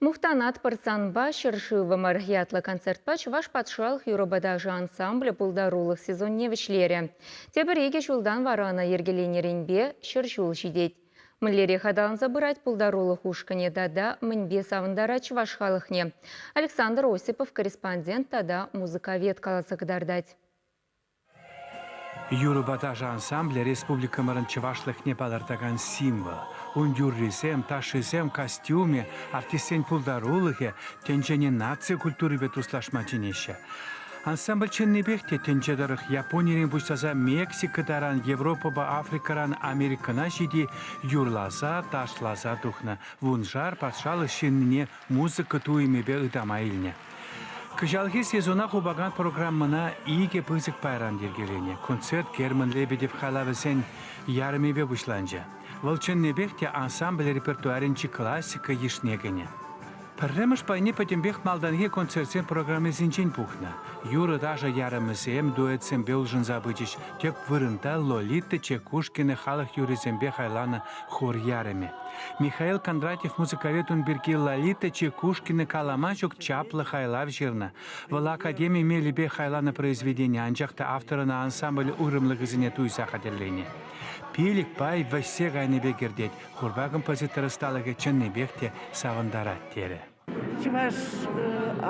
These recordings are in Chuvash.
Мухтанатпӑр санпа, ҫӗршывӑмӑр! ятлӑ концертпа Чӑваш патшалӑх юрӑ-паташӗ ансамблӗ пултарулӑх сезонне вӗҫлерӗ. Тепӗр икӗ ҫултан вара ӑна йӗркеленӗренпе ҫӗр ҫул ҫитет. Мӗнлерех аталанса пырать пултарулӑх ушкӑнӗ тата мӗнпе савӑнтарать чӑваш халӑхне? Александр Осипов корреспондент тата музыковед каласа кӑтартать. Юрӑпа ташӑ ансамблӗ республикӑмӑрӑн чӑвашлӑхне палӑртакан символ. Ун юррисем, ташшисем, костюмӗ, артистсен пултарулӑхӗ тӗнчене наци культурипе туслашма чӗнеҫҫӗ. Ансамбль чӑннипех те тӗнче тӑрӑх Японирен пуҫласа Мексика таран, Европӑпа Африкӑран Америкӑна ҫити юрласа, ташласа тухнӑ. Вуншар патшалӑх ҫыннине музыка туйӑмӗпе ытама илнӗ. Кӑҫалхи сезона хупакан программӑна икӗ пысӑк пайран йӗркеленӗ. Концерт Герман Лебедев халавӗсен ярӑмӗпе пуҫланчӗ. Вӑл чӑннипех те ансамбль репертуарӗнчи классика йышне кӗнӗ. Пӗрремӗш пайне пӗтӗмпех малтанхи концертсен программисенчен пухнӑ. Юрӑ-ташӑ ярӑмӗсем дуэтсемпе улшӑнса пычӗҫ. Тӗп вырӑнта Лолита Чекушкина халӑх юррисемпе хайланӑ хор ярӑмӗ. Михаил Кондратьев музыковед ун пирки Лолита Чекушкина калама ҫук чаплӑ хайлав ҫырнӑ. Вӑл академи мелӗпе хайланӑ произведени, анчах та автор ӑна ансамбль уйрӑмлӑхӗсене туйса хатӗрленӗ. Пилӗкпай вӗҫсе кайнипе кӗртет, хорпа композитор ӑсталӑхӗ чӑннипех те савӑнтарать, терӗ. чӑваш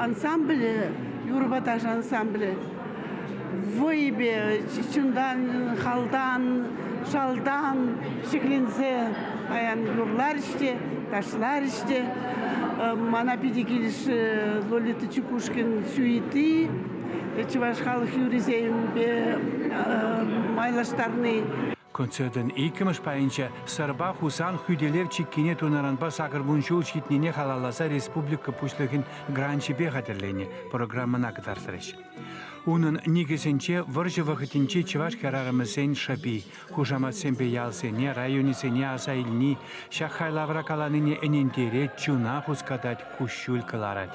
ансамблӗ, юрӑпа ташӑ ансамблӗ вӑйӗпе, чунтан, халтан, шалтан ҫӗкленсе паян юрларӗҫ те, ташларӗҫ те. Мана питӗ килӗшрӗ Лолита Чекушкин сюити чӑваш халӑх юррисемпе майлаштарни. Концертӑн иккӗмӗш пайӗнче Сӑрпа Хусан хӳтӗлев чиккине тунӑранпа сакӑрвун ҫул ҫитнине халалласа республика Пуҫлӑхӗн гранчӗпе хатӗрленӗ программӑна кӑтартрӗҫ. Унӑн никӗсӗнче вӑрҫӑ вӑхӑтӗнчи чӑваш хӗрарӑмӗсен шӑпи, хушаматсемпе ялсене, районӗсене аса илни, ҫак хайлавра каланине ӗнентерет, чуна хускатать, куҫҫуль кӑларать.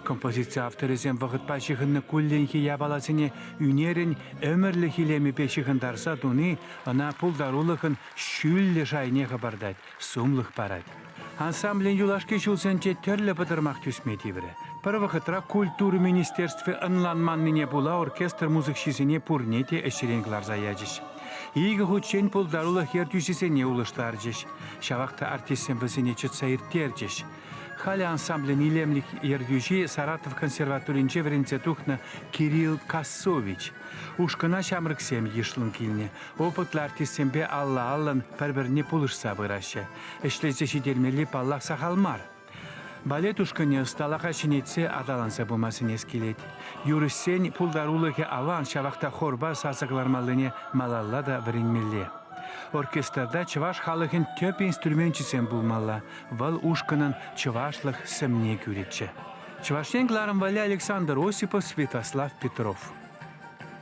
Композици авторӗсем вӑхӑтпа ҫыхӑннӑ кулленхи япаласене ӳнерӗн ӗмӗрлӗх илемӗпе ҫыхӑнтарса туни ӑна пултарулӑхӑн ҫӳллӗ шайне хӑпартать, сумлӑх парать. Ансамблӗн юлашки ҫулсенче тӗрлӗ пӑтӑрмах тӳсме тиврӗ. Пӗр вӑхӑтра Культура министерстви ӑнланманнине пула оркестр мусӑкҫисене пурне те ӗҫрен кӑларса ячӗҫ. Икӗ хутчен пултарулӑх ертӳҫисене улӑштарчӗҫ. Ҫавах та артистсем вӗсене чӑтса ирттерчӗҫ. Халӗ ансамблӗн илемлӗх ертӳҫи Саратов консерваторинче вӗренсе тухнӑ Кирилл Кассович. Ушкӑна ҫамрӑксем йышлӑн килнӗ. Опытлӑ артистсемпе алла-аллӑн пӗр-пӗрне пулӑшса пыраҫҫӗ. Ӗҫлесе ҫитермелли, паллах, сахал мар. Балет ушкӑнӗ ӑсталӑха ҫӗнетсе аталанса пыма сӗнес килет. Юрӑҫсен пултарулӑхӗ аван, ҫавах та хорпа сасӑ кӑлармаллине малалла та вӗренмелле. Оркестрта чӑваш халӑхӗн тӗп инструменчӗсем пулмалла, Вӑл ушкӑнӑн чӑвашлӑх сӗмне кӳрӗччӗ. Чӑваш Ен кӑларӑм валли Александр Осипов, Святослав Петров.